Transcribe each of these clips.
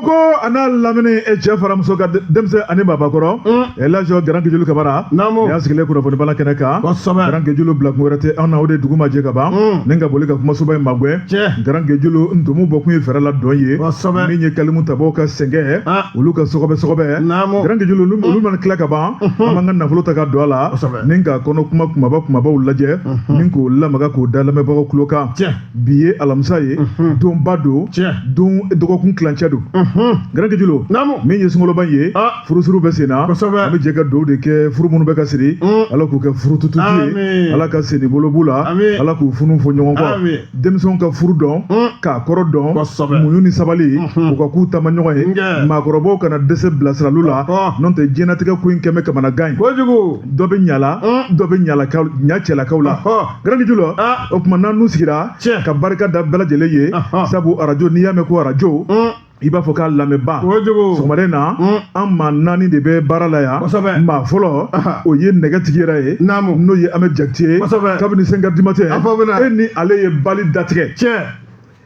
ko a n'a lamini e cɛ fara muso kan denmisɛn ani babakɔrɔ Elhadji Grand Guédiolo Camara y'a sigilen kunnafoni bala kɛnɛ kan Grand Guédiolo bila kun wɛrɛ tɛ anw na o de dugu ma jɛ ka ban ni ka boli ka kumasoba in magwɛn Grand Guédiolo ntumu bɔ kun ye fɛɛrɛ la dɔn ye min ye kalimu tabaw ka sɛgɛn olu ka sɔgɔbɛ sɔgɔbɛ Grand Guédiolo olu mana tila ka ban an b'an ka nafolo ta ka don a la ni k'a kɔnɔ kuma kumaba kumabaw lajɛ ni k'o lamaga k'o da lamɛnbagaw tulo kan bi ye alamisa ye donba don don dɔgɔkun kilancɛ don Grand Guédiolo min ye sunkoloba ye ah. furusiri bɛ sen na an bɛ jɛ ka dugawu de kɛ furu minnu bɛ ka siri mm. ala k'u kɛ furu tututu ye ala ka sen ni bolo b'u la ala k'u funu fɔ ɲɔgɔn kɔ denmisɛnw ka furu dɔn mm. k'a kɔrɔ dɔn muɲu ni sabali o ka k'u taamaɲɔgɔn ye maakɔrɔbaw kana dɛsɛ bilasirali la n'o tɛ diɲɛnatigɛ ko in kɛlen bɛ kamanagan ye dɔ bɛ ɲala mm. dɔ bɛ ɲa cɛlakaw la Grand Guédiolo ah. o tuma na anw sigira ka barika da bɛɛ lajɛlen ye sabu arajo n'i y'a mɛn ko arajo mm. i b'a fɔ k'a lamɛnba sɔgɔmada in na mm. an maa naani de bɛ baara la yan maa fɔlɔ o ye nɛgɛtigi yɛrɛ ye n'o ye Ahmed Diakité ye kabini cinq heures du matin e ni ale ye bali datigɛ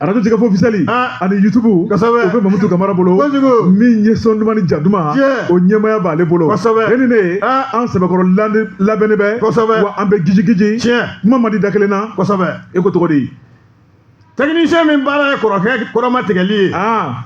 arajo Jɛkafɔ officiel Ah. ani yutubu Kosɛbɛ. o bɛ mamutu kamara bolo Kojugu. min ye sɔn duman ni ja duman Tiɲɛ. o ɲɛmaaya b'ale bolo Kosɛbɛ. e ni ne ye Ah. an sɛbɛkɔrɔ lande- labɛnnen bɛ Kosɛbɛ. wa an bɛ gijigiji Tiɲɛ. kuma man di da kelen na kosɛbɛ e ko cogo di tɛkinisiyɛn min baara ye kɔrɔkɛ kɔrɔma tigɛli ye aa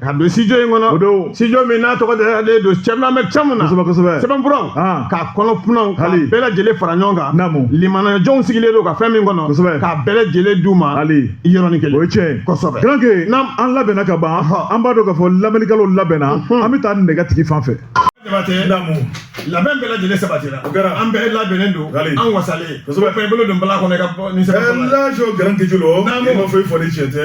ka don studio in kɔnɔ o don studio min n'a tɔgɔ dalen don Thierno Ahmed Thiam na kosɛbɛ kosɛbɛ sɛbɛnfuraw ah. ka kɔnɔfɛnw k'a bɛɛ lajɛlen fara ɲɔgɔn kan naamu limaniyajɔnw sigilen don ka fɛn min kɔnɔ kosɛbɛ k'a bɛɛ lajɛlen d'u ma hali yɔrɔnin kelen o ye tiɲɛ ye kosɛbɛ Grand Gué an labɛnna ka ban an b'a dɔn k'a fɔ lamɛnnikɛlaw labɛnna an bɛ taa nɛgɛtigi fan fɛ. labɛn bɛɛ lajɛlen sabatira o kɛra an bɛɛ labɛnnen don an wasalen kosɛbɛ i bolo don bala kɔnɔ i ka bɔ ni sɛbɛn kɔnɔ Elhadji Grand Guédiolo ne ma foyi fɔli cɛ tɛ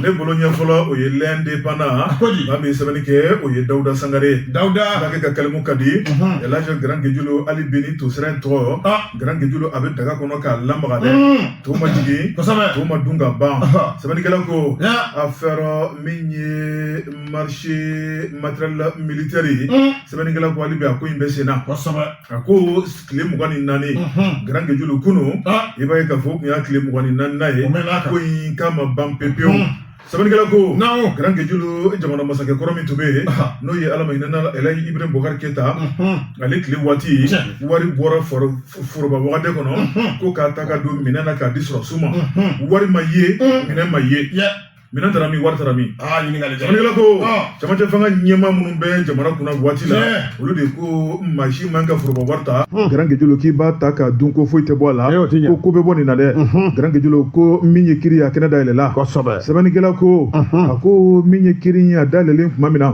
ne bolo ɲɛ fɔlɔ o ye L'Indépendant ko di maa min sɛbɛnni kɛ o ye dawuda sangare dawuda ale ka kalimu ka di Elhadji Grand Guédiolo hali bi ni tosira in tɔ Grand Guédiolo a bɛ daga kɔnɔ k'a lamaga dɛ to ma jigin kosɛbɛ to ma dun ka ban sɛbɛnnikɛla ko affaire min ye marché matériel militaire ye sɛbɛnnikɛla ko hali bi a ko in bɛ sen na kosɛbɛ a ko tile mugan ni naani Grand Guédiolo kunu i b'a ye k'a fɔ o tun y'a tile mugan ni naaninan ye ko in k'a ma ban pewu pewu sɛbɛnnikɛla ko Grand Guédiolo jamana masakɛ kɔrɔ min tun bɛ yen n'o ye ala ma hinɛ a la Elhadji Ibrahim Boubacar Keita ale tile waati wari bɔra foroba wagande kɔnɔ ko k'a ta ka don minɛn na k'a di sɔrɔsiw ma wari ma ye minɛn ma ye minɛn taara min wari taara min aa ɲininkali jara sɛbɛnnikɛla ko camancɛ fanga ɲɛmaa minnu bɛ jamana kunna waati la olu de ko maa si man ka foroba wari ta garankejulu k'i b'a ta ka dun ko foyi tɛ bɔ a la ko ko bɛ bɔ nin na dɛ garankejulu ko min ye kiri a kɛnɛ dayɛlɛla sɛbɛnnikɛla ko a ko min ye kiri a dayɛlɛlen tuma min na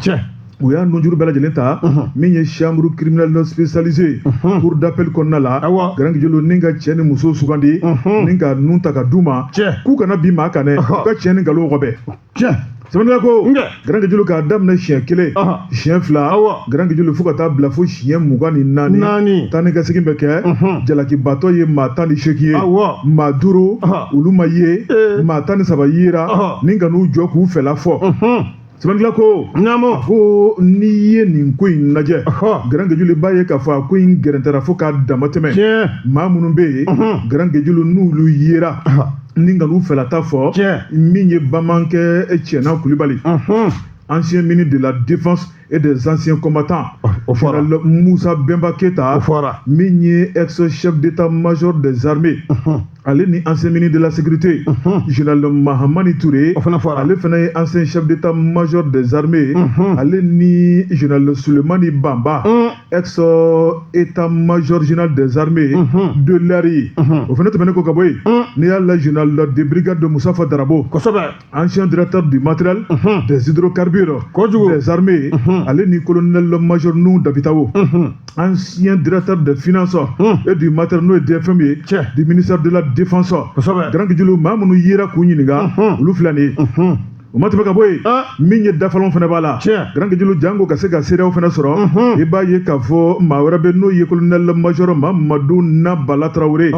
u y'a nunjuru bɛɛ lajɛlen ta min ye chambre criminelle spécialisée cour d'appel kɔnɔna la garankejulu ni ka cɛ ni muso sugandi ni ka nun ta ka d'u ma k'u kana bin maa kan dɛ ka cɛn ni nkalon kɔfɛ sɛbɛnnikɛla ko garankejulu k'a daminɛ siɲɛ kelen siɲɛ fila garankejulu fo ka taa bila fo siɲɛ mugan ni naani taa ni ka segin bɛ kɛ jalakibaatɔ ye maa tan ni seegin ye maa duuru olu ma ye maa tan ni saba yera ni ka n'u jɔ k'u fɛla fɔ sɛbɛnnikɛla ko naamu ko n'i ye nin ko in lajɛ garankejulu b'a ye k'a fɔ a ko in gɛrɛntɛra fo k'a dama tɛmɛ maa minnu bɛ yen garankejulu n'olu yera ni ka n'u fɛlata fɔ min ye bamanankɛ Tiéna Coulibaly ancien ministre de la défense et des anciens combattants ah, o fɔra Moussa Bemba Keita o fɔra min ye ex chef d'état major des armées ale ni ancien ministre de la sécurité général Mahamane Touré o fana fɔra ale fana ye ancien chef d'état major des armées ale ni général Souleymane Bamba ex état major général des armées de l'air o fana tɛmɛnen ko ka bɔ yen n'i y'a lajɛ général de brigade de Moustapha Drabo kosɛbɛ ancien directeur du matériel uh-huh. des hydrocarbures kojugu des armées uh-huh. ale ni colonel major Nou Dabitao uh-huh. ancien directeur des finances et du matériel n'o ye DFM ye du ministère de la défense garankejulu maa minnu yera k'u ɲininka olu filɛ nin ye o ma tɛmɛ ka bɔ yen ah. min ye dafalanw fana b'a la garankejulu janko ka se ka seereyaw fana sɔrɔ mhm. i b'a ye k'a fɔ maa wɛrɛ bɛ n'o ye colonel major Mamadou Nabala Traoré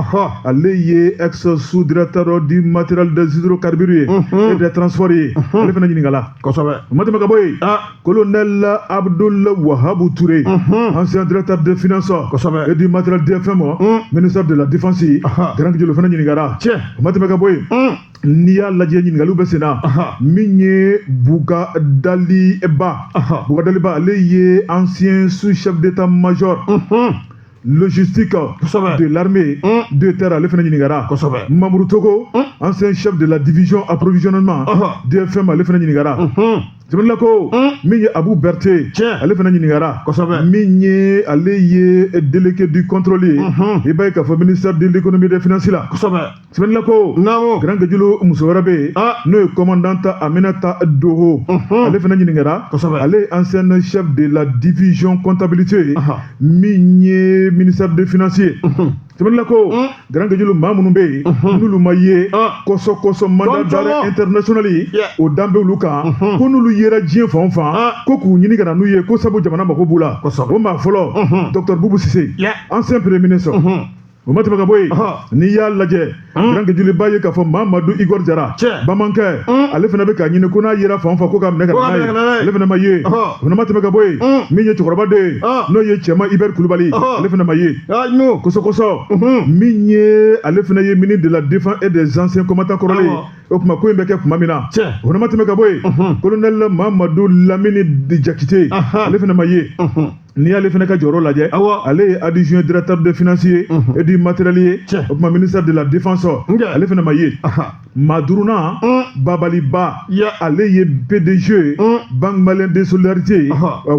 ale ye ex sous directeur du matériel des hydrocarbures ye et des transports ye ale fana ɲininkala kosɛbɛ o ma tɛmɛ ka bɔ yen ah colonel Abdoul Wahab Touré ancien directeur des finances kosɛbɛ et du matériel DFM ministère de la défense garankejulu o fana ɲininkara tiɲɛ o ma tɛmɛ ka bɔ yen n'i y'a lajɛ ɲininkaliw bɛ sen na min ye Bougadaly Bah Bougadaly Bah ale ye ancien sous chef d'état major logistique kosɛbɛ de l'armée mm. de terre ale fana ɲininkara kosɛbɛ Mamourou Togo mm. ancien chef de la division approvisionnement DFM ale fana ɲininkara mm-hmm. jamana ko mm. min ye Abou Berthé ale fana ɲininkara kosɛbɛ min ye ale ye délégué du contrôle ye mm-hmm. i b'a ye k'a fɔ ministère de l'économie et des finances la kosɛbɛ Sɛbɛnla ko n' garanjj muso wɛrɛ bɛ yen n'o ye kɔntan ta a bɛna taa don ale fana ɲini kɛra ale an sɛ de la difizɔn kɔntabilite ye min ye minisa de fsi ye sɛbɛnla ko garanjj maa minnu bɛ yen n'olu ma ye kɔsɔ kɔsɔ ma ja ntrsli o danbe olu kan ko n'olu yɛrɛ diɲɛ fan fan ko k'u ɲini kana n'u ye ko sabu jamana mako b'u la o maa fɔlɔtobugusi an senpre minɛ sɔrɔ o ma tɛmɛ ka bɔ yen n'i y'a lajɛ garangejulu i b'a ye k'a fɔ mamadu igɔri jara bamanankɛ ale fana bɛ ka ɲini ko n'a yera fan o fan ko k'a minɛ ale fana ma ye ma tɛmɛ ka bɔ yen min ye cɛkɔrɔba de ye n'o ye cɛman ibɛri kulubali ale fana ma ye kɔsɔ kɔsɔ min ye ale fana ye ministre de la défense et des anciens combattants kɔrɔlen o tuma ko in bɛ kɛ tuma min na o fana ma tɛmɛ ka bɔ yen kolonɛli mamadu lamini jakite ale fana ma ye n'i y'ale fana ka jɔyɔrɔ lajɛ awa ale ye adjoint directeur des finances et du matériel ye o tuma ministère de la défense ale fana ma ye maa duurunan babali ba ale ye pdg banque malienne de solidarité ye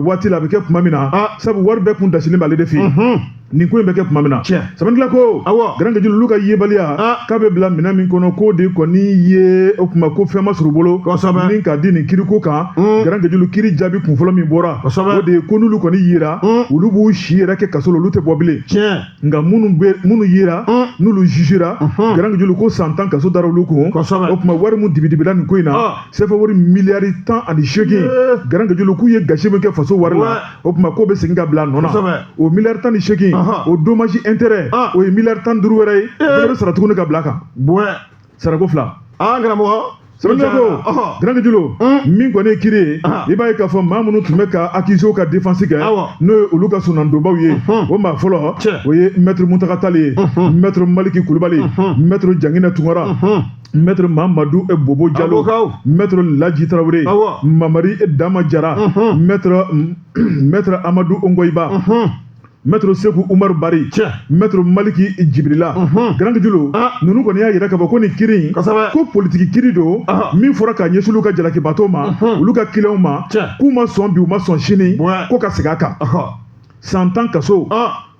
waati la a bɛ kɛ tuma min na sabu wari bɛɛ kun dasilen b'ale de fɛ yen nin ko in bɛ kɛ tuma min na sɛbɛnnila ko awa garangejulu olu ka yebaliya k'a bɛ bila minɛn min kɔnɔ k'o de kɔni ye o tuma ko fɛn ma sɔrɔ u bolo min ka di nin kiriko kan hmm. garangejulu kiri jaabi kunfɔlɔ min bɔra o de ye ko n'olu kɔni yera hmm. olu b'u si yɛrɛ kɛ kaso la olu tɛ bɔ bilen nka minnu yera hmm. n'olu jugera garangejulu ko san tan kaso dara olu kun o tuma wari min dibidibila nin ko in na sefa wari miliyari tan ani seegin garangejulu k'u ye gasi min kɛ faso wari la o tuma k'o bɛ segin ka bila nɔ na o miliyari tan ni seegin o dommage intérêt o ye miliyari tan ni duuru wɛrɛ ye o bɛ sara tuguni ka bila kan sarako fila karamɔgɔ sɛbɛnnila ko garangejulu min kɔni ye kiri ye i b'a ye k'a fɔ maa minnu tun bɛ ka accuséw ka défense kɛ n'o ye olu ka soronadonbaw ye o maa fɔlɔ o ye mɛtiri muntaga tali ye mɛtiri maliki kulubali mɛtiri jangina tunkara mɛtiri mamadu e bobo jalo mɛtiri laji tarawele mamari e dama jara mɛtiri amadu ongoyiba mɛtiri segu umaru bari mɛtiri maliki jibirila garangejulu ninnu kɔni y'a yira k'a fɔ ko nin kiri in ko politiki kiri don min fɔra ka ɲɛsin olu ka jalakibaatɔw ma olu ka kiliyanw ma k'u ma sɔn bi u ma sɔn sini ko ka segin a kan san tan kaso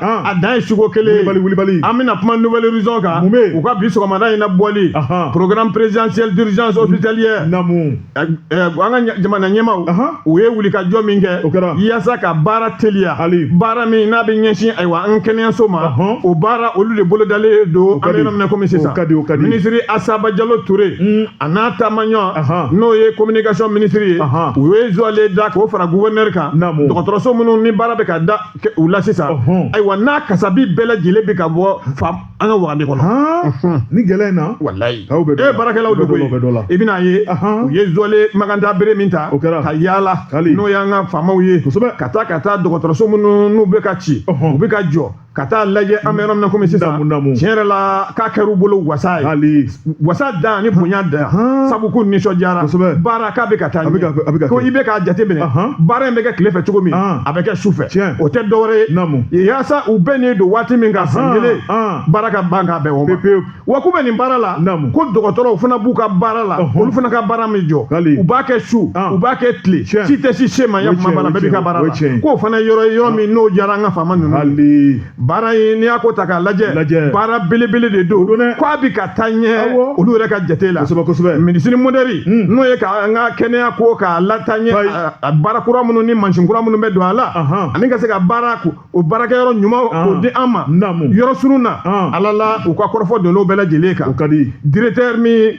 a dan ye suko kelen wulibali wulibali an bɛna kuma nouvel horizon kan mun bɛ u ka bi sɔgɔmada in na bɔli programme présidentiel d'urgence hospitalière namu an ka jamana ɲɛmaw u ye wulikajɔ min kɛ o kɛra yaasa ka baara teliya hali baara min n'a bɛ ɲɛsin ayiwa an kɛnɛyaso ma o baara olu de bolodalen don an bɛ yɔrɔ min na komi sisan minisiri asa bajalo ture a n'a taamaɲɔ n'o ye communication minisiri ye u ye zuwale da k'o fara gouverneur kan dɔgɔtɔrɔso minnu ni baara bɛ ka da u la sisan ayiwa n'a kasabi bɛɛ lajɛlen bɛ ka bɔ an ka wagande kɔnɔ ni gɛlɛya in na walayi e baarakɛlaw de koyi i bɛna ye u ye zɔle maganta bere min ta ka yaala n'o y'an ka faamaw ye ka taa ka taa dɔgɔtɔrɔso minnu n'u bɛ ka ci u bɛ ka jɔ ka taa lajɛ an bɛ yɔrɔ min na komi sisan tiɲɛ yɛrɛ la k'a kɛra u bolo wasa ye wasa dan ni bonya dan Ahan. sabu k'u nisɔndiyara Kosɛbɛ. baara k'a bɛ ka taa A bɛ ka- a bɛ ka ko kɛ. i bɛ k'a jateminɛ Ahan. baara in bɛ kɛ tile fɛ cogo min Ahan. a bɛ kɛ su fɛ Tiɲɛ. o tɛ dɔwɛrɛ ye Naamu. yaasa u bɛnnen don waati min kan san Ahan, kelen ahan. baara ka ban k'a bɛn o ma Pepewu. wa k'u bɛ nin baara la Naamu. ko dɔgɔtɔrɔw fana b'u ka baara la Ɔhɔn. olu fana ka baara ma jɔ Hali. u b'a kɛ su An. u b'a kɛ tile Tiɲɛ. si tɛ si se ma ya O ye kuma tiɲɛ, b'a la o ye bɛɛ b'i ka tiɲɛ, baara o ye la tiɲɛ. k'o fana ye yɔrɔ ye yɔrɔ min n'o diyara an ka faama ninnu ye. hali baara in n'i y'a ko ta k'a lajɛ Lajɛ. baara belebele de don don dɛ. k'a bɛ ka taa ɲɛ Awɔ. olu yɛrɛ ka jate la kosɛbɛ kosɛbɛ médecine moderne Mm. n'o ye ka an ka kɛnɛya ko k'a lataa ɲɛ Ayi. a- a baara kura minnu ni mansin kura minnu bɛ don a la Ahan. ani ka se ka baara ko- o baarakɛyɔrɔ ɲuman k'o Ahan. di an ma Naamu. yɔrɔ surun na Ahan. ala la u ka kɔrɔfɔ donn'o bɛɛ lajɛlen o kan ka di directeur min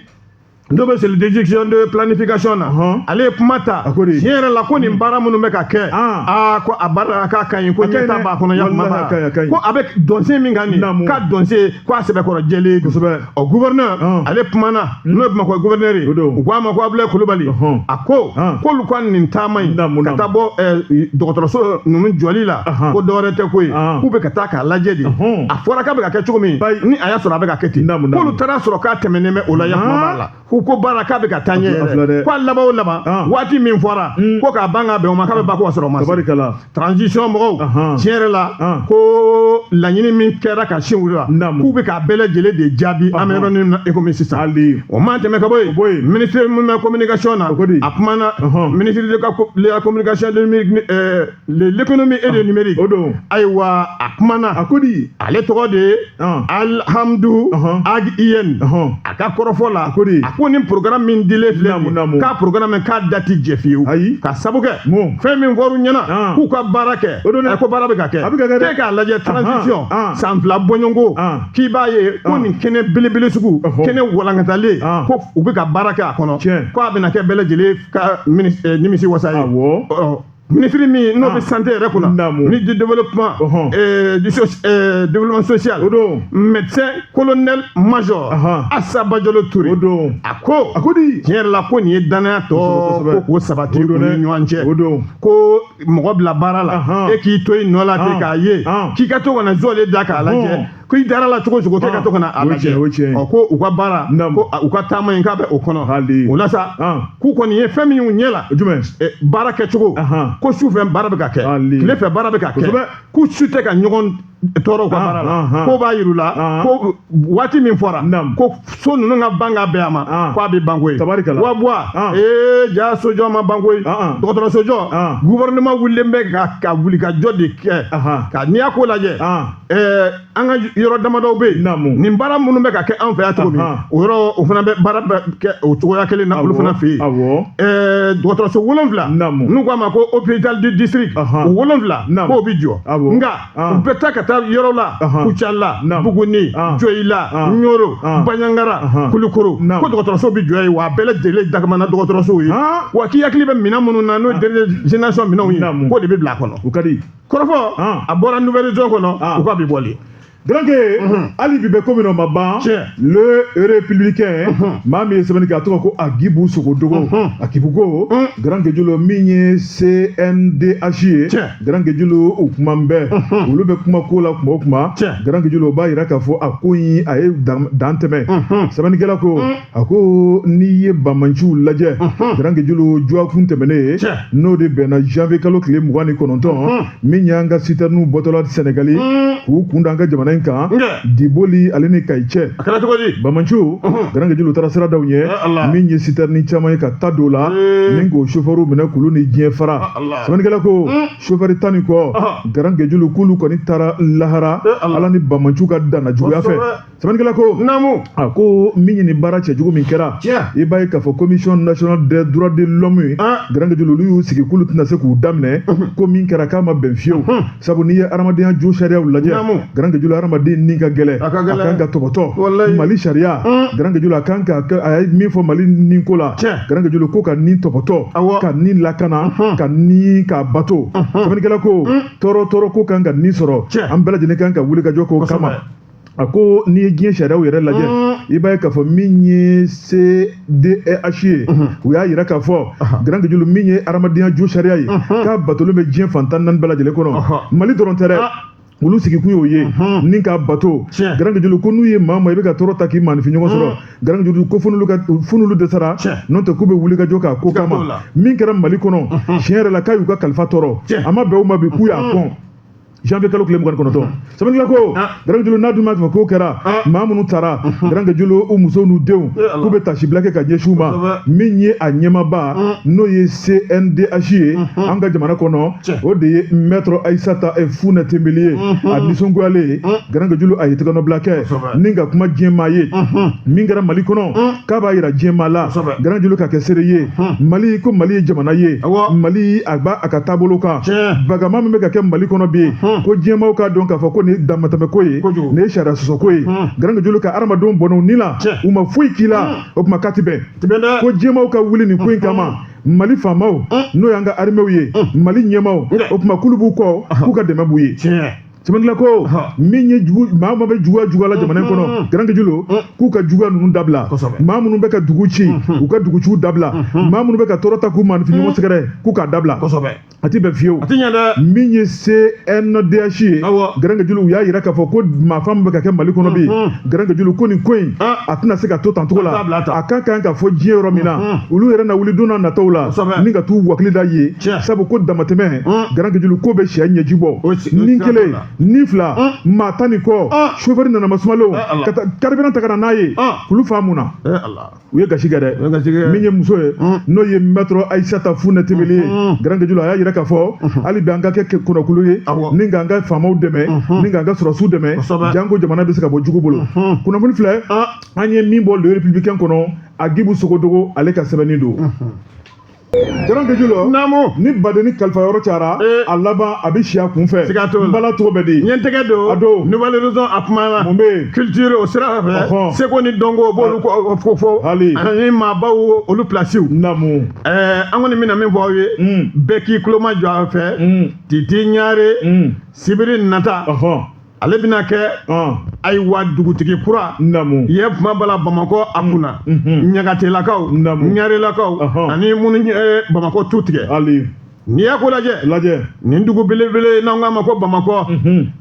n'o bɛ cellule d'exécution de planification na Ɔhɔn. ale ye kuma ta A ko de. tiɲɛ yɛrɛ la ko nin baara minnu bɛ ka kɛ Ah. aa ko a baara la k'a ka ɲi ko A ka ɲi ɲɛtaa dɛ. b'a kɔnɔ ya kuma Walahi, a ka ɲi, a ka ɲi. ko a bɛ dɔnsen min kan nin Naamu. k'a dɔnsen ko a sɛbɛkɔrɔ jɛlen don. Kosɛbɛ. ɔ gouverneur Ah. ale kumana n'o ye bamakɔ gouverneur ye O don. u ko a ma ko abulayi kulubali Ɔhɔn. a ko Ah. k'olu ka nin taama in Naamu, ka naamu. taa bɔ ɛɛ, dɔgɔtɔrɔso ninnu jɔli la Ahan. ko dɔwɛrɛ tɛ ko ye Ah. k'u bɛ ka taa k'a lajɛ de Ɔhɔn. a fɔra k'a bɛ ka kɛ cogo min Bayi. ni a y'a sɔrɔ a bɛ ka kɛ ten Naamu, naamu. k'olu taara y'a sɔrɔ k'a tɛmɛnen bɛ o la ya kuma b'a la ko ko baara k'a bɛ ka taa ɲɛ A filɛ yɛrɛ dɛ. ko a laban o laban Ɔn. waati min fɔra Mm. ko k'a ban ka bɛn o ma k'a bɛ ban ko ka sɔrɔ o ma se tabarikala transition mɔgɔw Ahan. tiɲɛ yɛrɛ la Ɔn. ko laɲini min kɛra ka sin olu la Naamu. k'u bɛ k'a bɛɛ lajɛlen de jaabi an bɛ Ɔhɔn. yɔrɔ min na e komi sisan hali o man tɛmɛ ka bɔ yen O bɔ yen. ministre min bɛ communication na O ko di? a kumana Ɔhɔn. ministre de ka ko- de la communication de mi- mi- ɛɛ de l'économie et de ah, numérique o don ayiwa a kumana a ko di ale tɔgɔ de ye ah. alihamdu uh-huh. ag ilyène uh-huh. a ka kɔrɔfɔ la a ko di a ko nin programme min dilen filɛ nin k'a programme min k'a dati jɛ fiyewu ayi ka sabu kɛ mun fɛn min fɔr'u ɲɛna ah. k'u ka baara kɛ o don dɛ ko baara bɛ ka kɛ a bɛ ka kɛ dɛ k'e k'a lajɛ transition san fila bɔɲɔgɔnko k'i b'a ye ko nin kɛnɛ belebele sugu uh-huh. kɛnɛ walankatalen ko u bɛ ka baara kɛ a kɔnɔ ko a bɛna kɛ bɛɛ lajɛlen ka eh, nimisi wasa ye Ministre min n'o bɛ ah. santé yɛrɛ kunna ni du développement développement social o don médecin colonel major asa bajalo ture o don a ko a ko di tiɲɛ yɛrɛ la ko nin ye dannaya tɔ ko k'o sabati u ni ɲɔgɔn cɛ o don ko mɔgɔ bila baara la e k'i to i nɔ la ten k'a ye k'i ka to ka na zɔle da k'a lajɛ ko i dara la cogo o cogo k'e ka to ka na a lajɛ o tiɲɛ ɔ ko u ka baara ko u ka taama in k'a bɛ o kɔnɔ hali o la sa k'u kɔni ye fɛn min y'u ɲɛ la jumɛn baara kɛcogo ko su fɛ baara bɛ ka kɛ tile fɛ baara bɛ ka kɛ k'u si tɛ ka ɲɔgɔn tɔɔrɔ ka baara la k'o b'a yir'u la ko waati min fɔra ko so ninnu ka ban ka bɛn a ma k'a bɛ ban koyi wa buwa ee ja sojɔ ma ban koyi dɔgɔtɔrɔsojɔ gouvernement wulilen bɛ ka wulikajɔ de kɛ ka n'i y'a ko lajɛ ɛɛ an ka yɔrɔ damadɔw bɛ yen Naamu. nin baara minnu bɛ ka kɛ an fɛ yan cogo min Ahan. o yɔrɔw fana bɛɛ baara bɛ kɛ o cogoya kelen na olu Awɔ, fana fɛ yen awɔ. ɛɛ dɔgɔtɔrɔso wolonwula Naamu. n'u k'a ma ko hôpital du district Ahan. o wolonwula Naamu. k'o bɛ jɔ Awɔ. nka Ah. u bɛ taa ka taa yɔrɔ la Ahan. kucala Naamu. buguni Ah. joyila Ah. ɲoro Ah. baɲangara Ahan. kulukoro Naamu. ko dɔgɔtɔrɔso bɛ jɔ yen wa a bɛɛ lajɛlen dagamana dɔgɔtɔrɔsow ye Ah. wa k'i hakili bɛ minɛn minnu na n'o ye dernière génération minɛnw ye Naamu. k'o de bɛ bila a kɔnɔ o ka di kɔrɔfɔ a bɔra Nouvel Horizon kɔnɔ u ka bi bɔli garanke hali bi bɛ ko min na o ma ban le républicain maa min ye sɛbɛnni kɛ a tɔgɔ ko Agibu Sogodogo Agibu ko garankejulu min ye CNDH ye garankejulu u kuma bɛɛ olu bɛ kuma ko la kuma o kuma garankejulu o b'a yira k'a fɔ a ko in a ye dan tɛmɛ sɛbɛnnikɛla ko a ko n'i ye banbaanciw lajɛ garankejulu juwakun tɛmɛnen in n'o de bɛnna janvier kalo tile mugan ni kɔnɔntɔn min y'an ka sitɛriniw bɔtɔla sɛnɛgali k'u kun da an ka jamana in kan diboli ale ni kayi cɛ banbaanciw garankejulu taara sira da u ɲɛ min ye sitɛrini caman ye ka ta don la min k'o sofɛriw minɛ k'olu ni diɲɛ fara sɛbɛnnikɛla ko sofɛri tan ni kɔ garankejulu k'olu kɔni taara lahara a la nin banbaanciw ka dannajuguya fɛ sɛbɛnnikɛla ko naamu a ko min ye nin baara cɛjugu min kɛra tiɲɛ i b'a ye k'a fɔ commission nationale des droits de l'homme ye garankejulu olu y'u sigi k'olu tɛna se k'u da minɛ ko min kɛra k'a ma bɛn fiyewu sabu n'i ye hadamadenya josariyaw lajɛ garankejulu hadamaden ni ka gɛlɛn a kan ka tɔpɔtɔ mali sariya garankejulu a kan ka a ye min fɔ mali ni ko la garankejulu ko ka ni tɔpɔtɔ ka ni lakana ka ni ka bato sɛbɛnnikɛla ko tɔɔrɔ tɔɔrɔ ko kan ka ni sɔrɔ an bɛɛ lajɛlen kan ka wuli ka jɔ k'o kama a ko n'i ye diɲɛ sariyaw yɛrɛ lajɛ i b'a ye k'a fɔ min ye CNDH ye u y'a yira k'a fɔ garankejulu min ye hadamadenya josariya ye k'a batolen bɛ diɲɛ fan tan ni naani bɛɛ lajɛlen kɔnɔ Mali dɔrɔn tɛ dɛ olu sigikun y'o ye ni k'a bato Tiɲɛ. garankejulu ko n'u ye maa ma i bɛ ka tɔɔrɔ ta k'i maanifin ɲɔgɔn sɔrɔ garankejulu ko fo n'olu ka fo n'olu dɛsɛra Tiɲɛ. n'o tɛ k'u bɛ wuli ka jɔ k'a ko Ka kama t'o la. min kɛra Mali kɔnɔ tiɲɛ yɛrɛ la k'a y'u ka kalifa tɔɔrɔ Tiɲɛ. a ma bɛn u ma bi k'u y'a kɔn janvier kalo tile mugan kɔnɔntɔn sɛbɛnnikɛla ko garankejulu n'a dun ma fɛ k'o kɛra maa minnu taara garankejulu u musow n'u denw k'u bɛ taasibila kɛ ka ɲɛsin u ma min ye a ɲɛmaaba n'o ye cndh ye an ka jamana kɔnɔ o de ye maître ayisata fune tembeli ye a nisɔngoyalen garankejulu a ye tɛgɛnɔbila kɛ ni ka kuma diɲɛmaa ye min kɛra mali kɔnɔ k'a b'a yira diɲɛmaa la garankejulu ka kɛ seere ye mali ko mali ye jamana ye mali a b'a a ka taabolo kan bagama min bɛ ka kɛ mali kɔnɔ bi ko diɲɛmaaw k'a dɔn k'a fɔ ko nin ye damatɛmɛko ye nin ye sariya sɔsɔko ye garankejulu ka hadamadenw bɔn'u ni la u ma foyi k'i la o tuma k'a ti bɛn ko diɲɛmaaw ka wuli nin ko in kama mali faamaw n'o y'an ka arimew ye mali ɲɛmaaw o tuma k'olu b'u kɔ k'u ka dɛmɛ b'u ye Kɛla ko min ye maa min bɛ juguya juguya la jamana in kɔnɔ garankejulu k'u ka juguya ninnu dabila maa minnu bɛ ka dugu ci u ka duguci dabila maa minnu bɛ ka tɔɔrɔ ta k'u maanifinɲɔgɔn sɛgɛrɛ k'u k'a dabila a tɛ bɛn fiyewu min ye cndh ye garankejulu u y'a yira k'a fɔ ko maafaa min bɛ ka kɛ mali kɔnɔ bi garankejulu ko nin ko in a tɛna se ka to tan cogo la a ka kan ka fɔ diɲɛ yɔrɔ min na olu yɛrɛ na wuli don nataw la ni ka taa u wakili da ye sabu ko damatɛmɛ garankejulu ko bɛ cɛ ɲɛji bɔ ni kelen ni fila maa tan ni kɔ chauffeur nana masumalenw ka taa carburant ta ka na n'a ye k'olu faa mun na u ye gasi kɛ dɛ min ye muso ye n'o ye maître ayisata fune tembeli ye garankejulu a y'a yira k'a fɔ hali bi an ka kɛ kɔnɔkulu ye ni ka an ka faamaw dɛmɛ ni ka an ka sɔrɔsiw dɛmɛ janko jamana bɛ se ka bɔ jugu bolo kunnafoni filɛ an ye min bɔ le républicain kɔnɔ agibu sogodogo ale ka sɛbɛnni don Garankejulu naamu ni badeni kalifa yɔrɔ cayara a laban a bɛ si a kun fɛ ka to bala tɔgɔ bɛ diɲɛ tɛgɛ don nouvel horizon a kuma la mun bɛ culture o sira fɛ seko ni dɔnko b'olu fo fɔ hali ani maabaw olu pilasiw naamu an kɔni bɛna min fɔ aw ye bɛɛ k'i tulo majɔ a fɛ titi ɲare sibiri nata ale bɛna kɛ ayiwa dugutigi kura namu ye kuma bala bamakɔ a kunna ɲagatelakaw namu ɲarelakaw ani minnu bamakɔ tu tigɛ hali n'i y'a ko lajɛ lajɛ nin dugu belebele n'an k'a ma ko bamakɔ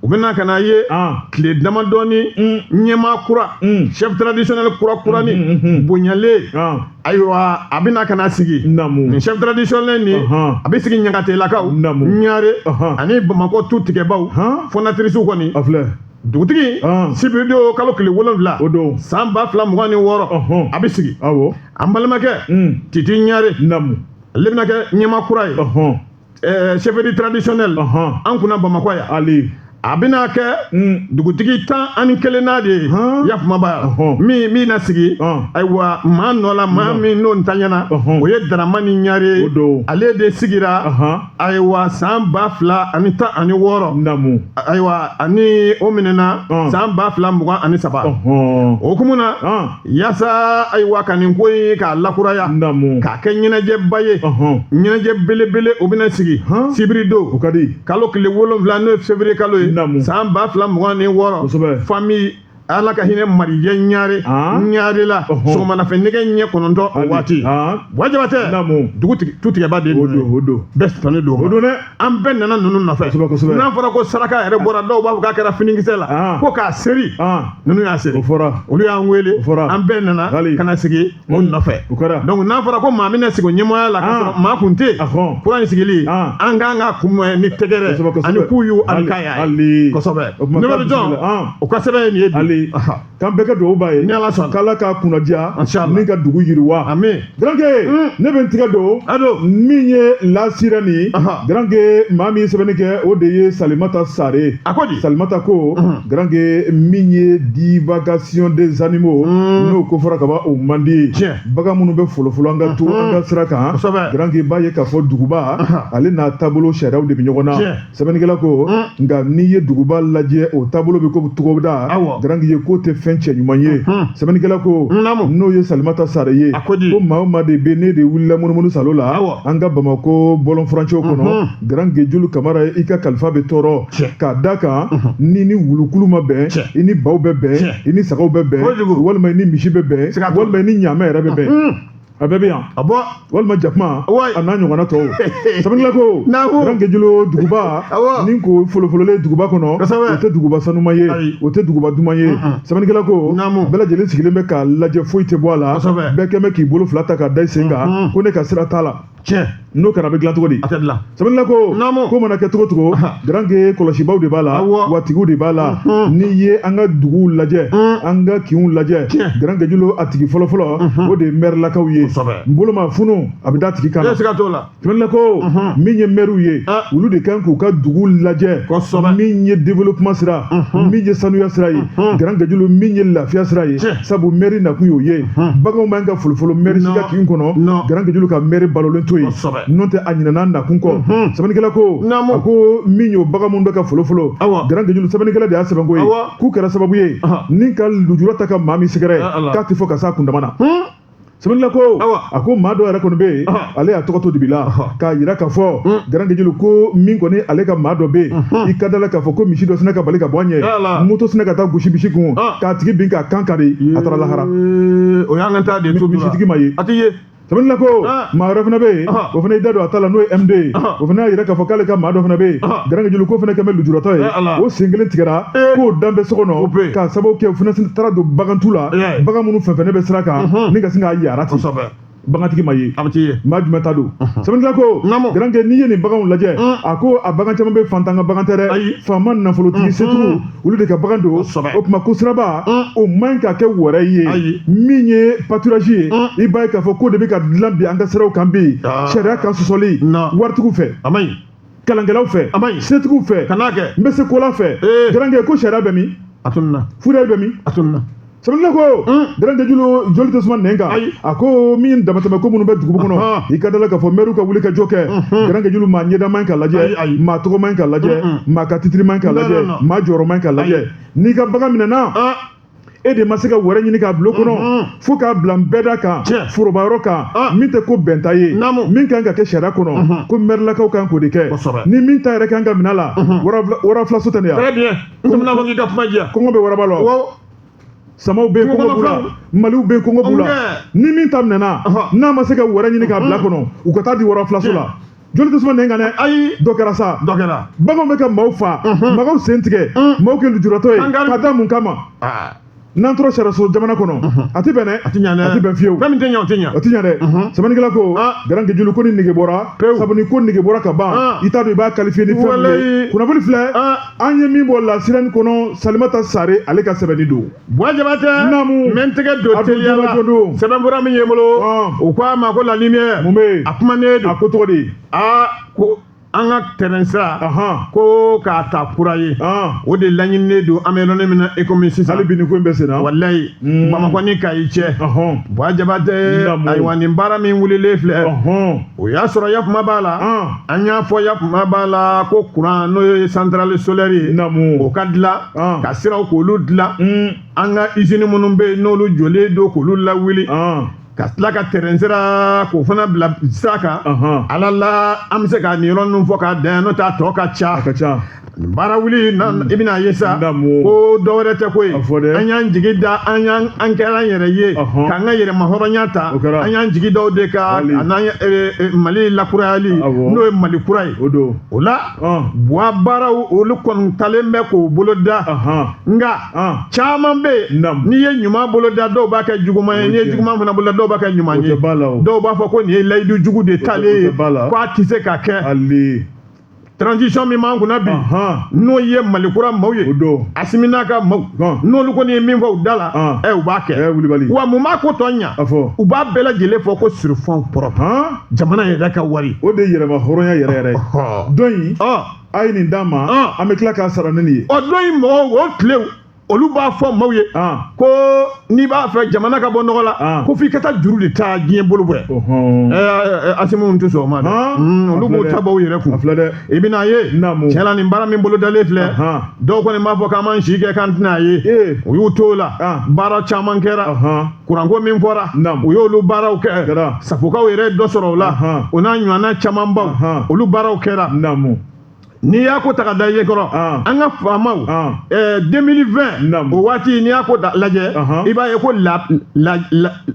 u bɛna ka na ye tile damadɔni ɲɛmaa kura chef traditionnel kurakurani bonyalen ayiwa a bɛna ka na sigi namu chef traditionnel ni a bɛ sigi ɲagatelakaw namu ɲare ani bamakɔ tu tigɛbaw fondatrice kɔni a filɛ dugutigi sibiridon kalo tile wolonwula o don san ba fila mugan ni wɔɔrɔ a bɛ sigi awɔ an balimakɛ titi ɲare namu ale bɛna kɛ ɲɛmaa kura ye ɛɛ chefferie traditionnel an kunna bamakɔ yan ale a bɛna kɛ hmm. dugutigi tan ani kelennan de ye yafumaba min min na sigi ayiwa maa nɔ la maa min n'o ntanyana o ye daramani ɲare ale de sigira ayiwa san ba fila ani tan ani wɔɔrɔ ayiwa ani o minɛna san ba fila mugan ani saba o hukumu na yaasa ayiwa ka nin ko in k'a lakuraya k'a kɛ ɲɛnajɛba ye ɲɛnajɛ belebele o bɛna sigi sibiri don kalo tile wolonwula n'o ye février kalo ye san ba fila mugan ni wɔɔrɔ famille ala ka hinɛ marijɛ ɲare ɲare la sɔgɔmana fɛ nɛgɛ ɲɛ kɔnɔntɔn o waati wa jabatɛ dugutigi tutigɛba de don bɛɛ sɔnnen don o don dɛ an bɛɛ nana ninnu nɔfɛ n'a fɔra ko saraka yɛrɛ bɔra dɔw b'a fɔ k'a kɛra finikisɛ la ah. ko k'a seri ah. ninnu y'a seri olu y'an wele an bɛɛ nana ka na sigi o hmm. nɔfɛ donc n'a fɔra ko maa min na sigi o ɲɛmɔgɔya la ka ah. sɔrɔ maa kuntigi kura in sigili an kan k'a kunbɛn ni tɛgɛrɛ ani kuyu ani kaya kosɛbɛ ne bɛ jɔn o ka sɛbɛn ye nin ye bi K'an bɛɛ kɛ dugawu b'a ye. Ni Ala sɔnna. K'Ala k'a kunna diya. An sha Allah. Ni ka dugu yiriwa. Ami. Garanke. Un. Ne bɛ n tigɛ don. A don. Min ye La Sirène. Ahan. Garanke, maa min ye sɛbɛnni kɛ, o de ye Salimata Sare ye. A ko di? Salimata ko. Unhun. Garanke, min ye divagation des animaux. Un. N'o ko fɔra ka ban, o man di. Tiɲɛ. Bagan minnu bɛ folofolo an ka to Unhun. an ka sira kan. Kosɛbɛ. Garanke b'a ye k'a fɔ duguba, Ahan. ale n'a taabolo sariyaw de bɛ ɲɔgɔn na. Tiɲɛ. sɛbɛnnikɛla ko nka n'i ye duguba lajɛ o taabolo bɛ ko togoda garanke ye k'o tɛ fɛn cɛ ɲuman ye sɛbɛnnikɛla ko n'o ye salimata sare ye ko maa o maa de bɛ n'e de wulila munumunu salo la an ka bamakɔ bɔlɔnfurancɛw kɔnɔ garanke julu kamara i ka kalifa bɛ tɔɔrɔ k'a da kan n'i ni wulukulu ma bɛn i ni baw bɛ bɛn i ni sagaw bɛ bɛn walima i ni misi bɛ bɛn walima i ni ɲaamɛ yɛrɛ bɛ bɛn a bɛɛ bɛ yan a bɔ walima jakuma a n'a ɲɔgɔnna tɔw sɛbɛnnikɛla ko garanke julu duguba ni ko folofololen duguba kɔnɔ o tɛ duguba sanuman ye o tɛ duguba duman ye sɛbɛnnikɛla ko bɛɛ lajɛlen sigilen bɛ k'a lajɛ foyi tɛ bɔ a la bɛɛ kɛlen bɛ k'i bolo fila ta k'a da i sen kan ko ne ka sira t'a la tiɲɛ n'o kɛra a bɛ dilan cogo di a tɛ dilan sabula ko ko mana kɛ cogo cogo garanke kɔlɔsibaw de b'a la wa tigiw de b'a la n'i ye an ka duguw lajɛ an ka kinw lajɛ garanke julu a tigi fɔlɔfɔlɔ o de ye mɛrilakaw ye n bolo ma funu a bɛ da tigi kan sabula ko min ye mɛriw ye olu de kan k'u ka dugu lajɛ min ye développement sira min ye sanuya sira ye garanke julu min ye lafiya sira ye sabu mɛri nakun y'o ye baganw man ka folofolo mɛri si ka kin kɔnɔ garanke julu ka mɛri balolen to yen n'o tɛ a ɲinana nakun kɔ sɛbɛnnikɛla ko a ko min y'o bagan minnu bɛ ka folofolo garanke julu sɛbɛnnikɛla de y'a sɛbɛn ko ye k'u kɛra sababu ye ni ka lujura ta ka maa min sɛgɛrɛ k'a tɛ fɔ ka s'a kundama na sɛbɛnnikɛla ko a ko maa dɔ yɛrɛ kɔni bɛ yen ale y'a tɔgɔ to dibi la k'a yira k'a fɔ garankɛ julu ko min kɔni ale ka maa dɔ bɛ yen i ka da la k'a fɔ ko misi dɔ sinna ka bali ka bɔ a ɲɛ moto sinna ka taa gosi misi kun k'a tigi bin k'a kan kari a taara lahara o y'an ka taa de to misitigi ma ye a tɛ ye sɛbɛnnikɛla ko maa wɛrɛ fana bɛ yen o fana y'i da don a ta la n'o ye MD ye o fana y'a yira k'a fɔ k'ale ka maa dɔ fana bɛ yen garankɛ julu ko fana kɛlen bɛ lujuratɔ ye o sen kelen tigɛra k'o dalen bɛ so kɔnɔ k'a sababu kɛ o fana taara don bagantu la bagan minnu fɛnsɛnnen bɛ sira kan ni ka sin ka yaara ten bagantigi ma ye maa jumɛn ta don sɛbɛnnikɛla ko garankɛ n'i ye nin baganw lajɛ a ko a bagan caman bɛ fantan ka bagan tɛ dɛ faama nafolotigi setigiw olu de ka bagan don o tuma ko siraba o man ɲi ka kɛ wɛrɛ ye min ye pâturage ye i b'a ye k'a fɔ k'o de bɛ ka dilan bi an ka siraw kan bi sariya kan sɔsɔli waritigiw fɛ kalankɛlaw fɛ a man ɲi setigiw fɛ ka n'a kɛ n bɛ se kola fɛ garankɛ ko sariya bɛ min a tununna fourrière bɛ min a tununna sɛbɛnnikɛla ko garankɛ julu joli tɛ suma nɛn kan a ko min damatɛmɛ ko minnu bɛ duguba kɔnɔ i ka da la k'a fɔ mɛriw ka wulikajɔ kɛ garankɛ julu maa ɲɛda man ɲi ka lajɛ maa tɔgɔ man ɲi ka lajɛ maa ka titiri man ɲi ka lajɛ maa jɔyɔrɔ man ɲi ka lajɛ n'i ka bagan minɛna e de ma se ka wɛrɛ ɲini k'a bila o kɔnɔ mhm. fo k'a bila nbɛda kan forobayɔrɔ kan ah. min tɛ ko bɛnta ye min kan ka kɛ sariya kɔnɔ mhm. ko mɛrilakaw kan k'o de kɛ ni min ta yɛrɛ kan ka minɛ la mhm. wara filaso tɛ ne ya kɔngɔ bɛ waraba la samaw bɛ yen kɔngɔ b'u la maliw bɛ yen kɔngɔ b'u la ni min ta minɛna n'a ma se ka wɛrɛ ɲini k'a bila kɔnɔ u ka taa di wara filaso la joli tɛ suma nɛn kan dɛ ayi dɔ kɛra sa dɔ kɛra baganw bɛ ka maaw fa maaw sen tigɛ maaw kɛ lujuratɔ ye ka da mun kama n'an tora sariyaso jamana kɔnɔ a tɛ bɛn dɛ a tɛ ɲɛ dɛ a tɛ bɛn fiyewu fɛn min tɛ ɲɛ o tɛ ɲɛ o tɛ ɲɛ dɛ sɛbɛnnikɛla ko garankɛ julu ko nin nege bɔra sabu ni ko nege bɔra ka ban i t'a dɔn i b'a qualifier ni fɛn min ye kunnafoni filɛ an ye min bɔ La Sirène kɔnɔ salimata sare ale ka sɛbɛnni don Buwa jabatɛ n bɛ n tɛgɛ don teliya sɛbɛnfura min ye n bolo u ko a ma ko La Lumière a kumanen don a ko cogo di aa ko an ka terɛn sira ko k'a ta kura ye o de laɲininen don an bɛ yɔrɔ min na i kɔmi sisan hali bi nin ko bɛ sen na walayi bamakɔ ni kayi cɛ buwa jabatɛ ayiwa nin baara min wulilen filɛ o y'a sɔrɔ ya kuma b'a la an y'a fɔ ya kuma b'a la ko kuran n'o ye centrale solaire o ka dilan ka siraw k'olu dilan an ka izini minnu bɛ yen n'olu jɔlen don k'olu lawuli ka tila ka terɛn sira k'o fana bila sira kan ala la an bɛ se ka nin yɔrɔ ninnu fɔ k'a dan yan n'o t'a tɔ ka ca a ka ca baara wuli i bɛna ye sa ko dɔ wɛrɛ tɛ ko ye an y'an jigi da an y'an an kɛra an yɛrɛ ye k'an ka yɛrɛmahɔrɔnya ta an y'an jigi da o de kan an'an mali lakurayali n'o ye mali kura ye o la buwa baaraw olu kɔni talen bɛ k'o boloda nka caman bɛ yen n'i ye ɲuman boloda dɔw b'a kɛ juguman ye n'i ye juguman fana boloda dɔw b'a kɛ ɲuman ye dɔw b'a fɔ ko nin ye layidu jugu de talen ye ko a tɛ se ka kɛ transition min b'an kunna bi n'o ye mali kura maaw ye asimi n'a ka maaw n'olu kɔni ye min fɔ u da la ɛ u b'a kɛ wa mun b'a ko tɔ ɲa u b'a bɛɛ lajɛlen fɔ ko sur fonds propres jamana yɛrɛ ka wari o de ye yɛrɛmahɔrɔnya yɛrɛ yɛrɛ ye don in a ye nin d'a ma an bɛ tila k'a sara ni nin ye o don in mɔgɔw o tile olu b'a fɔ maaw ye ko n'i b'a fɛ jamana ka bɔ nɔgɔ la ko f'i ka taa juru de ta diɲɛ bolo bɔ asimi tɛ sɔn o ma dɛ olu b'o ta bɔ u yɛrɛ kun a filɛ dɛ i bɛna a ye tiɲɛ la nin baara min bolo dalen filɛ dɔw kɔni b'a fɔ k'an b'an si kɛ k'an tɛna a ye u y'u to o la baara caman kɛra kuranko min fɔra u y'olu baaraw kɛ safokaw yɛrɛ ye dɔ sɔrɔ o la o n'a ɲɔgɔnna camanbaw olu baaraw kɛra n'i y'a ko ta ka da ye kɔrɔ an ka faamaw 2020 o waati n'i y'a ko lajɛ i b'a ye ko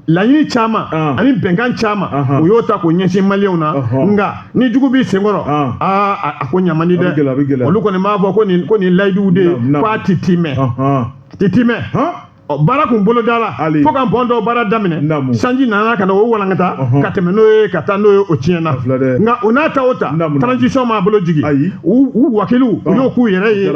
laɲini caman ani bɛnkan caman u y'o ta k'o ɲɛsin maliyɛnw na nka ni jugu b'i senkɔrɔ aa a ko ɲa man di dɛ olu kɔni b'a fɔ ko nin layiduw de ye k'a ti timɛ ti timɛ baara kun bolodala fo ka pɔn dɔ baara daminɛ sanji nana ka na o walankata ka tɛmɛ n'o ye ka taa n'o ye o tiɲɛna nka o n'a ta o ta transition m'a bolo jigin u wakiliw u y'o k'u yɛrɛ ye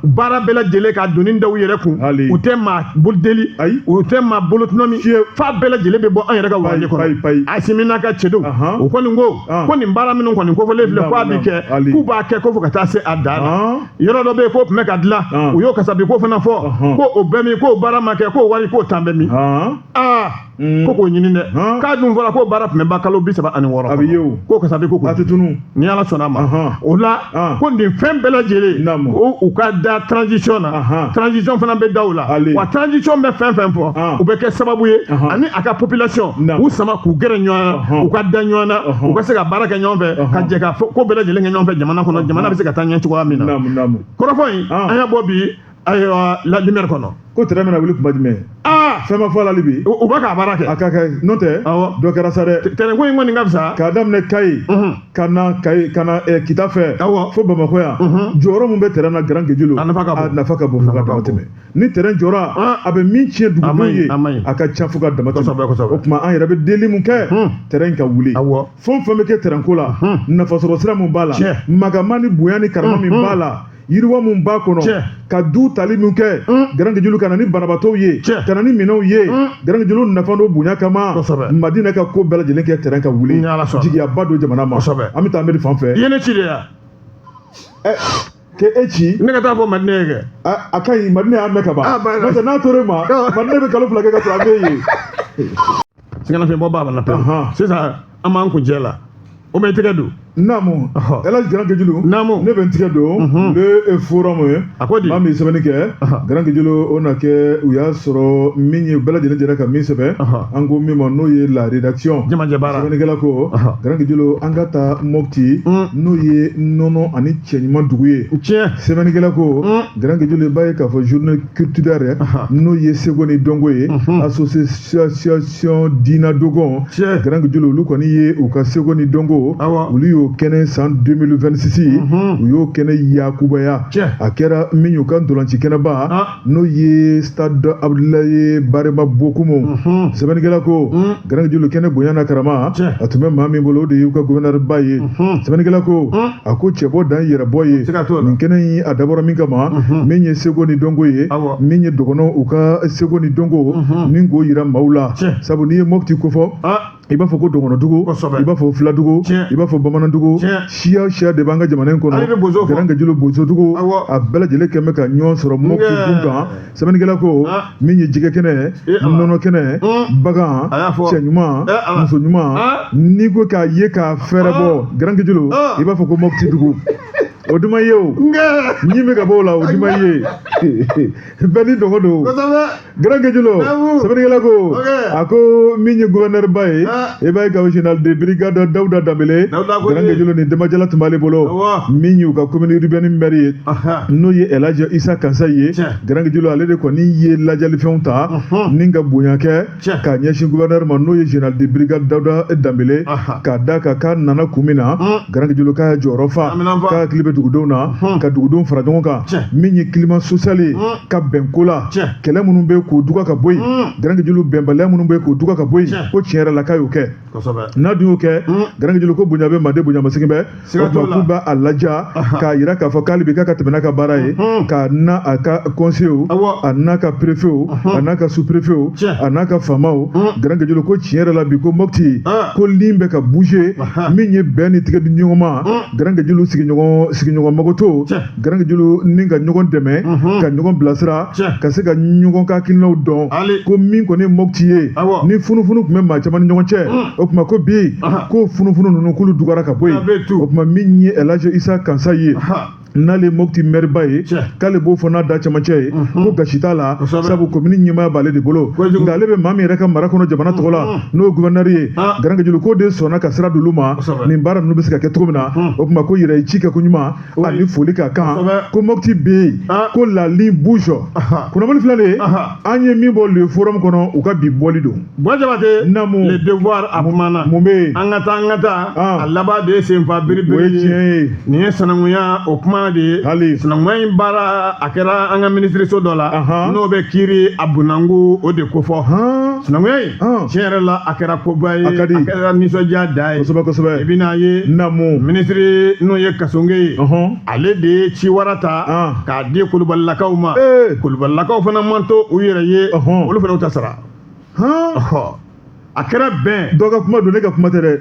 baara bɛɛ lajɛlen ka doni da u yɛrɛ kun u tɛ maa bolo deli u tɛ maa bolo tɔnɔmi f'a bɛɛ lajɛlen bɛ bɔ an yɛrɛ ka warijɛ kɔnɔ asimi n'a ka cɛdenw o kɔni ko ko nin baara minnu kɔni kofɔlen filɛ k'a bi kɛ k'u b'a kɛ ko fo ka taa se a dan na yɔrɔ dɔ bɛ yen k'o tun bɛ ka dilan ah. u y'o kasabi ko fana fɔ uh-huh. ko o bɛ min k'o baara ma kɛ k'o wari k'o tan bɛ min ah. aa mm. ko k'o ɲini dɛ k'a dun fɔra k'o baara tun bɛ ban kalo bi saba ani wɔɔrɔ a bɛ ye o k'o kasabi ko a tɛ tunun ni ala sɔnna a ma uh-huh. o la ah. ko nin fɛn bɛɛ lajɛlen u ka da transition na transition fana bɛ da u la wa transition bɛ fɛn fɛn fɔ ah. u bɛ kɛ sababu ye uh-huh. ani a ka population k'u sama k'u gɛrɛ ɲɔgɔn na uh-huh. u ka da ɲɔgɔn na uh-huh. u ka se ka baara kɛ ɲɔgɔn fɛ ka jɛ ka ko bɛɛ lajɛlen kɛ ɲɔgɔn fɛ jamana kɔnɔ jamana bɛ se ka taa ɲɛ cogoya min na kɔrɔfɔ in ah. an y'a bɔ bi ayiwa la lumière kɔnɔ ko tɛrɛn bɛna wuli kuma jumɛn aa fɛn ma fɔ la bi u bɛ k'a baara kɛ a ka kɛ n'o tɛ awɔ dɔ kɛra sa dɛ tɛrɛn ko in kɔni ka fisa k'a daminɛ kayi ka na kayi ka na eh, kita fɛ Awɔ. fo bamakɔ yan Mhm. jɔyɔrɔ min bɛ tɛrɛn na garan gejilo A nafa ka bon. a nafa ka bon fo ka Nafa ka dama tɛmɛ ni tɛrɛn jɔra Ah. a bɛ min tiɲɛ A ma dugudenw ɲi, ye a ma ɲi. a ka ca fo ka dama tɛmɛ Kosɛbɛ, kosɛbɛ. o tuma an yɛrɛ bɛ deli min kɛ Hmm. tɛrɛn ka wuli Awɔ. fɛn o fɛn bɛ kɛ tɛrɛnko la Hmm. nafasɔrɔ sira min b'a la Tiɲɛ. magama ni bonya ni karama min Hmm. b'a la yiriwa min b'a kɔnɔ ka du tali min kɛ garankejulu ka na ni banabaatɔw ye ka na ni minɛnw ye garankejulu nafa n'o bonya kama madinɛ ka ko bɛɛ lajɛlen kɛ terrain ka wuli jigiyaba don jamana ma an bɛ taa amedi fan fɛ i ye ne ci de ya k'e ci ne ka taa fɔ madinɛ ye kɛ a ka ɲi madinɛ y'a mɛn ka ban n'o tɛ n'a tor'e ma madinɛ bɛ kalo fila kɛ ka sɔrɔ a bɛ yen sɛgɛnnafiɲɛbɔ b'a la pewu sisan an b'an kuncɛ la o bɛ tɛgɛ don naamu ala garankejulu naamu ne bɛ n tigɛ don le forum ye a ko di maa min sɛbɛnni kɛ garankejulu o na kɛ u y'a sɔrɔ min ye bɛɛ lajɛlen jɛra ka min sɛbɛn an ko min ma n'o ye la rédaction jamajɛ baara sɛbɛnnikɛla ko garankejulu an ka taa mopti n'o ye nɔnɔ ani cɛ ɲuman dugu ye tiɲɛ sɛbɛnnikɛla ko garankejulu i b'a ye k'a fɔ journée culturelle n'o ye seko ni dɔnko ye association association ginna dogon garankejulu olu kɔni ye u ka seko ni dɔnko olu y'o kɛnɛ san 2026 mhm. u y'o kɛnɛ yakubaya a kɛra min y'u ka ntolanci kɛnɛba ah. n'o ye stade abudulaye barema bokumu mhm. sɛbɛnnikɛla ko mhm. garankejulu kɛnɛ bonya n'a karama a tun bɛ maa min bolo o de y'u ka gɔvɛnɛriba ye sɛbɛnnikɛla ko a ko cɛbɔ dan yɛrɛbɔ ye nin kɛnɛ in a dabɔra min kama min ye seko ni dɔnko ye min ye dɔgɔnɔw ka seko ni dɔnko min k'o yira maaw la sabu n'i ye mopti kofɔ i b'a fɔ ko dɔgɔnɔdugu i b'a fɔ filadugu i b'a fɔ bamanandugu siya siya de b'an ka jamana in kɔnɔ garankejulu bozodugu a bɛɛ lajɛlen kɛmɛ bɛ ka ɲɔgɔn sɔrɔ mopti kun kan sɛbɛnnikɛla ko min ye jɛgɛ kɛnɛ nɔnɔ kɛnɛ bagan cɛ ɲuman muso ɲuman n'i ko k'a ye k'a fɛɛrɛ bɔ garankejulu i b'a fɔ ko mopti dugu o duma ye o ɲi bɛ ka bɔ o la o duma ye bɛɛ ni dɔgɔ don garankejulu sɛbɛnnikɛla ko a ko min ye guvɛnɛriba ye i b'a ye k'a fɔ général de brigade dawuda danbele Dawuda Kone. garankejulu ni denbajala tun b'ale bolo Awɔ. min y'u ka commune urbaine maire ye Aha. n'o ye elaji isa kansaye ye Tiɲɛ. garankejulu ale de kɔni ye lajalifɛnw ta Ɔhɔn. ni ka bonya kɛ Tiɲɛ. k'a ɲɛsin gouverneur ma n'o ye général de brigade dawuda danbele Aha. k'a da kan k'a nana kun min na Mm. garankejulu k'a y'a jɔyɔrɔ fa Aminan fa. k'a hakili bɛ dugudenw na Ɔhɔn. ka dugudenw fara ɲɔgɔn kan Tiɲɛ. min ye climat social ye Mm. ka bɛn ko la kɛlɛ minnu bɛ k'o duka ka bɔ yen garankejulu bɛnbaliya minnu bɛ k'o duka ka bɔ yen ko tiɲɛ yɛrɛ la k'a y'o kɛ n'a dun y'o kɛ garankejulu ko bonya bɛ manden bonya masegin bɛ o tuma k'u b'a laja k'a yira k'a fɔ k'ale bi k'a ka tɛmɛ n'a ka baara ye k'a n'a ka kɔnseyew a n'a ka perefew a n'a ka superefew a n'a ka faamaw garankejulu ko tiɲɛ yɛrɛ la bi ko mopti ko ligne bɛ ka bouger min ye bɛn ni tigɛ di ɲɔgɔn ma garankejulu sigiɲɔgɔn magoto Garankejulu ni ka ɲɔgɔn dɛmɛ ka ɲɔgɔn bilasira ka se ka ɲɔgɔn ka hakilinaw dɔn ko min kɔni ye mɔti ye ni funufunu tun bɛ maa caman ni ɲɔgɔn cɛ o tuma ko bi ko funufunu ninnu k'olu dugara ka bɔ yen o tuma min ye alaji isa kansaye n'ale mɔti mɛriba ye k'ale b'o fɔ n'a da camancɛ ye ko gasi t'a la sabu komini ɲɛmaaya b'ale de bolo nka ale bɛ maa min yɛrɛ ka mara kɔnɔ jamana tɔgɔ la n'o ye gouverneur ye garankejulu k'o de sɔnna ka sira d'olu ma nin baara ninnu bɛ se ka kɛ cogo min na o tuma k'o yɛrɛ ye ci kɛ koɲuman ani foli ka kan ko mɔti bɛ yen ah. ko la ligne bouge kunnafoni filɛ an ye min bɔ le forum kɔnɔ u ka bi bɔli don ba jabate namu le devoir a kumana mun bɛ yen an ka taa an ka taa ah. a laban de ye senfa biribiri o ye tiɲɛ ye nin ye sinankunya o kuma de ye hali sinankunya in baara a kɛra an ka minisiriso dɔ la n'o bɛ kiiri a bunangu o de kofɔ sinankunya in Ɔn. tiɲɛ yɛrɛ la a kɛra koba ye A ka di. kɛra nisɔndiya da ye Kosɛbɛ kosɛbɛ. i bɛna ye Namu. minisiri n'o ye kasonge ye Ɔhɔn. ale de ye ciwara ta An. k'a di kulubalilakaw ma Ee. kulubalilakaw fana man to u yɛrɛ ye Ɔhɔn. olu fana u ta sara Hɔn. Ɔhɔ. a kɛra bɛn Dɔ ka kuma don ne ka kuma tɛ dɛ.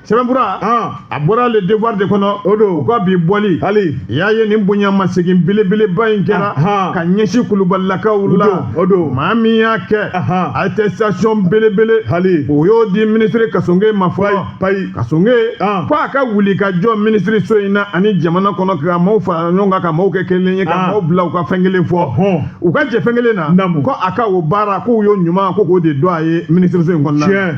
sɛbɛnfura a bɔra le devoir de kɔnɔ o don u ka bi bɔli hali y'a ye nin bonyamasegin belebeleba in kɛra ka ɲɛsin kulubalilakaw la o don maa min y'a kɛ attestation belebele hali o y'o di minisiri kasonge ma fɔlɔ payi kasonge ko a ka wuli ka jɔ minisiriso in na ani jamana kɔnɔ ka maaw fara ɲɔgɔn kan ka maaw kɛ kelen ye ka maaw bila u ka fɛn kelen fɔ u ka jɛ fɛn kelen na ko a ka o baara k'u y'o ɲuman ko k'o de dɔn a ye minisiriso in kɔnɔna na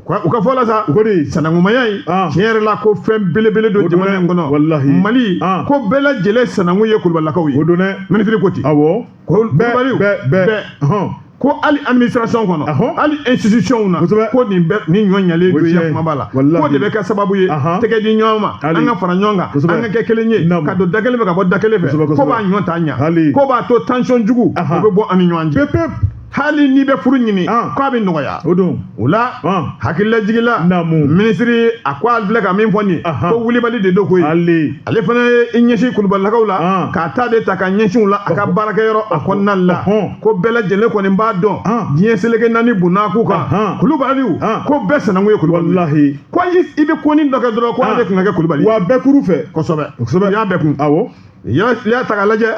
u ka fɔ la sa k'o de sanankumaya in ah. tiɲɛ yɛrɛ la ko fɛn belebele don jamana in kɔnɔ walahi mali ah. ko bɛɛ lajɛlen sanankun ye kulubalilakaw ye o don dɛ minisiri ko ten awɔ ko kulubaliw bɛɛ bɛɛ ko hali administration kɔnɔ hali institution na ko nin bɛ nin ɲɔ ɲalen don yan kumaba la k'o de bɛ kɛ sababu ye tɛgɛ di ɲɔgɔn ma an ka fara ɲɔgɔn kan an ka kɛ kelen ye ka don da kelen fɛ ka bɔ da kelen fɛ k'o b'a ɲɔ ta ɲa k'o b'a to tension jugu o bɛ bɔ an ni ɲɔgɔn cɛ hali n'i bɛ furu ɲini k'a bɛ nɔgɔya o don o la hakililajigila minisiri a ko a filɛ ka min fɔ nin ko wulibali de don koyi ale fana ye i ɲɛsin kulubalilakaw la k'a ta de ta ka ɲɛsin u la a ka baarakɛyɔrɔ a kɔnɔna la ko bɛɛ lajɛlen kɔni b'a dɔn diɲɛ seleke naani bonna k'u kan kulubaliw ko bɛɛ sanankun ye kulubali ye ko i bɛ ko ni dɔ kɛ dɔrɔn ko ale tun ka kɛ kulubali wa bɛɛ kuru fɛ kosɛbɛ kosɛbɛ y'a bɛɛ kun Yala fili y'a ta ka lajɛ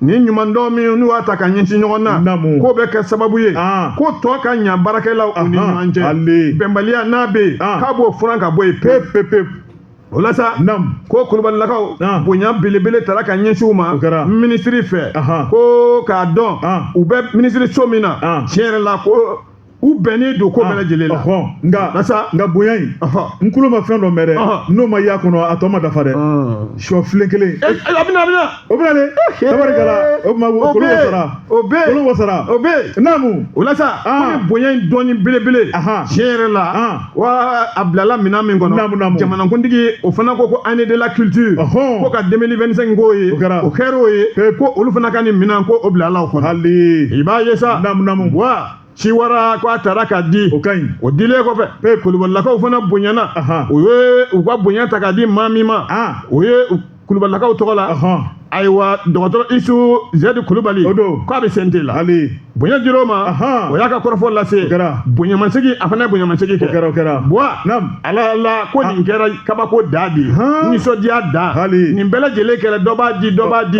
nin ɲumandɔn min n'u y'a ta ka ɲɛsin ɲɔgɔn na k'o bɛ kɛ sababu ye ko tɔ ka ɲa baarakɛlaw u ni ɲɔgɔn cɛ bɛnbaliya n'a bɛ yen k'a b'o furan ka bɔ yen pewu pewu pewu o la sa ko kulubalilakaw bonya belebele taara ka ɲɛsin u ma minisiri fɛ ko k'a dɔn u bɛ minisiriso min na tiɲɛ yɛrɛ la ko u bɛnnen don ko bɛɛ lajɛlen la nka barisa nka bonya in n kulo ma fɛn dɔ mɛn dɛ n'o ma y'a kɔnɔ a tɔ ma dafa dɛ sɔ filen kelen a bɛna a bɛna o bɛna de tabarikala o tuma kulo wasara o bɛ kulo wasara o bɛ naamu o la sa ko ni bonya in doni belebele tiɲɛ yɛrɛ la wa a bilala minɛn min kɔnɔ naamu naamu jamanakuntigi o fana ko ko année de la culture ko ka 2025 k'o ye o kɛra o kɛra o ye ko olu fana ka nin minɛn ko o bilala o kɔnɔ hali i b'a ye sa naamu naamu wa ciwara ko a taara k'a di o ka ɲi o dilen kɔfɛ ee kulubalilakaw fana bonyana u ye u ka bonya ta k'a di maa min ma o ye kulubalilakaw tɔgɔ la ayiwa dɔgɔtɔrɔ isu zɛdi kulubali o don k'a bɛ CNT la hali bonya dir'o ma o y'a ka kɔrɔfɔ lase kɛra bonyamasegin a fana ye bonyamasegin kɛ kɛra o kɛra buwa ala la ko nin kɛra kabako da de ye nisɔndiya da hali nin bɛɛ lajɛlen kɛra dɔ b'a di dɔ b'a di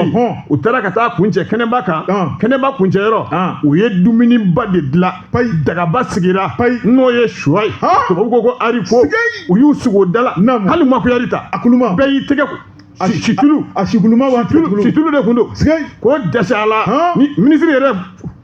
u taara ka taa kuncɛ kɛnɛba kan kɛnɛba kuncɛyɔrɔ u ye dumuniba de dilan payi dagaba sigira payi n'o ye sɔ ye tubabu ko ko haricot u y'u sigi o da la hali ma kuyɛri ta a kuluma bɛɛ y'i tɛgɛ situlu a situluma situlu de tun don k'o dɛsɛ a la minisiri yɛrɛ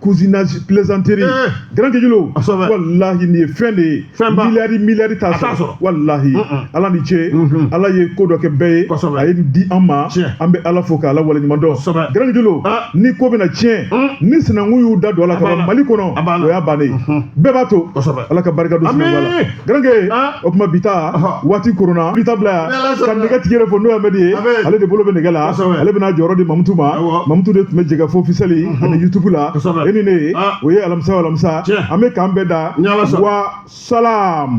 cousinage plaisanterie eh. garankɛ julo wallahi nin ye fɛn de ye miliyari miliyari t'a sɔrɔ wallahi ala ni ce mhm. ala ye ko dɔ kɛ bɛɛ ye a ye nin di an ma an bɛ ala fo k'ala waleɲuman dɔn garankɛ julo ah. ni ko bɛna tiɲɛ mm. ni sinankun y'u da don a la ka ban mali kɔnɔ o y'a bannen mhm. bɛɛ b'a to ala ka barika don sinankunya la garankɛ o tuma bi ta waati koronna bi ta bila yan ka nɛgɛtigi yɛrɛ fɔ n'o ye amɛdi ye ale de bolo bɛ nɛgɛ la ale bɛna jɔyɔrɔ di mamutu ma mamutu de tun bɛ jɛkafɔ officiel ani yutubu la e ni ne o ye alamisa o alamisa an bɛ k'an bɛn da wa salam